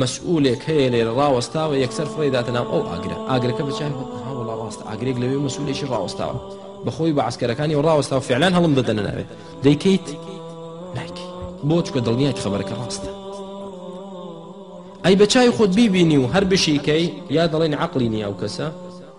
مەسئولێک هەیە لێرە ڕاوەستاوە یەکسەر فڕێی داتە ناو ئەو ئاگرە ئاگرەکە بە چاوی خۆت ئەها وەڵا ڕاستە ئاگرێک لەوێ مەسئولێکی ڕاوەستاوە بە خۆی بە عەسکەرەکانی و ڕاوەستاوە فعلان هەڵم دەدەنە ناوێ دەیکەیت نایکەی بۆ چکە دڵنیایت خەبەرەکە ڕاستە ئەی بە چاوی خۆت بیبینی و هەر بشیکەی یا دەڵێن عەقڵی نیە ئەو کەسە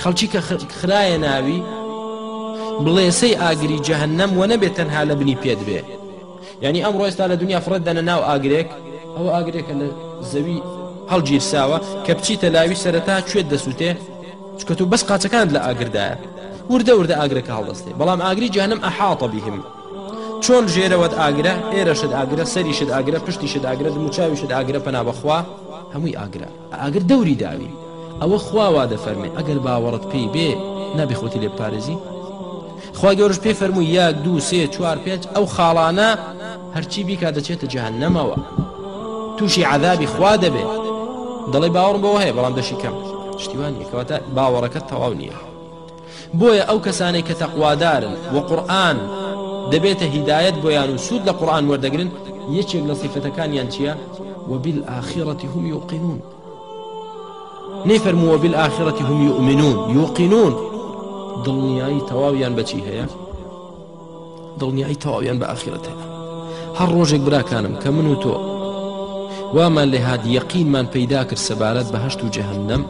خەڵکی کە خرایە ناوی بڵێسەی ئاگری جەهەنەم وە نەبێت تەنها لە بنی پێت بێ یعنی ئەم ڕۆێستا لە دنیا فڕێت دەنە ناو ئاگرێک ئەو ئاگرێکە لە زەوی هەڵگیرساوە کە بچیتە لاوی سەرەتا کوێت دەسووتێ چکە تو بەس قاچەکان لە ئاگردایە وردە وردە ئاگرەکە هەڵدەستێ بەڵام ئاگری جانم ئەحاڵتە بهم چۆن ژێرەوەت ئاگرە ئێرەشت ئاگرە سەریشت ئاگرە پشتیشت ئاگرە دموچاویشت ئاگرە پەنا بەخوا هەمووی ئاگرە ئاگر دەوری داوین ئەوە خوا وا دەفەرمێ ئەگەر باوەڕت پێی بێ نابێ خۆتی لێ بپارێزی خوا گەورەش پێی فەرمووی یەک دوو سێ چوار پێنج ئەو خاڵانە هەرچی بیکا دەچێتە جەهەنەمەوە تووشی عەذابی خوا دەبێ دەڵێ باوەڕم بەوە هەیە بەڵام دەشی کەم شتیوان نیە کەواتە باوەڕەکەت تەواو نییە بۆیە ئەو کەسانەی کە تەقوادارن و قورئان دەبێتە هیدایەت بۆیان و سوود لە قورئان وەردەگرن یەکێک لە سیفەتەکانیان چییە؟ وبالآخرة هم یوقنون نەیفەرموو وبالآخرة هم یومنون یوقنون دڵنیایی تەواویان بەچی هەیە؟ دڵنیایی تەواویان بە ئاخیرەت هەیە هەر ڕۆژێک براکانم کە من و تۆ وامان لێ هاات یەقینمان پەیدا کرد سەبارەت بە هەشت و جەهنم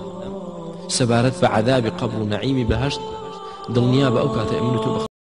سەبارەت بە عذابی قبل و نعیمی بەهشت دڵنیا بە ئەو کاتە من و تۆ بخ